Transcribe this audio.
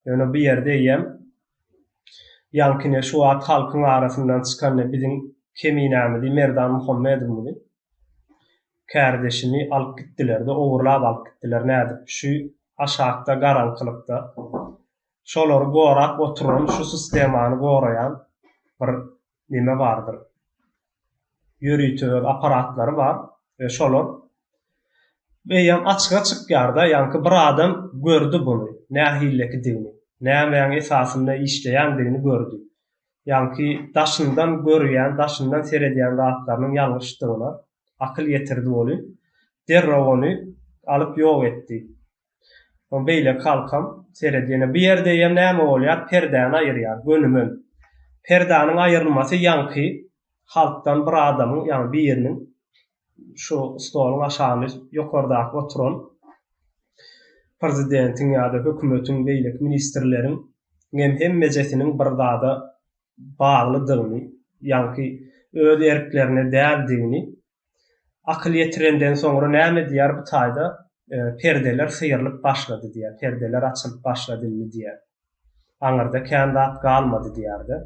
Ýöne bu ýerde eýýäm ýaňkyny şu wagt halkyň arasyndan çykany biziň Keminämizi Merdan Muhammedowymyzy kärdeşimi alyp gitdilerde ogurlap alyp gitdiler nädip şu aşakda garaňkylykda şolary gorap oturan şu sistemany goraýan bir neme bardyr? Ýörite öz apparatlary bar we şolar eýýäm açyga çykýar-da, ýaňky bir adam gördi buny, nähilikidigini, nämäň esasynda işleýändigini gördi. Ýaňky daşyndan görýän, daşyndan seredýän zatlarynyň ýalňyşdygyna akyl ýetirdi ony. Derrew ony alyp ýok etdi. Soň beýleki halkam seredýär. Bu ýerde ýa näme bolýar, perdäni aýyrýar, gönümel. Perdäniň aýrylmasy ýaňky halkdan bir adamyň, ýagny biriniň şu stoluň aşagyny ýokardaky oturan prezidentiň ýa-da hökümetiň beýleki ministrleriň hem hemmejesiniň bir zada baglydygyny, ýaňky öz erklerine däldigini Akyl ýetirenden soňra näme diýýär bu taýda, Perdeler syýrylyp başlady diýýär, perdeler açylyp başlady indi diýýär. Aňyrda kän zat galmady diýýär-de.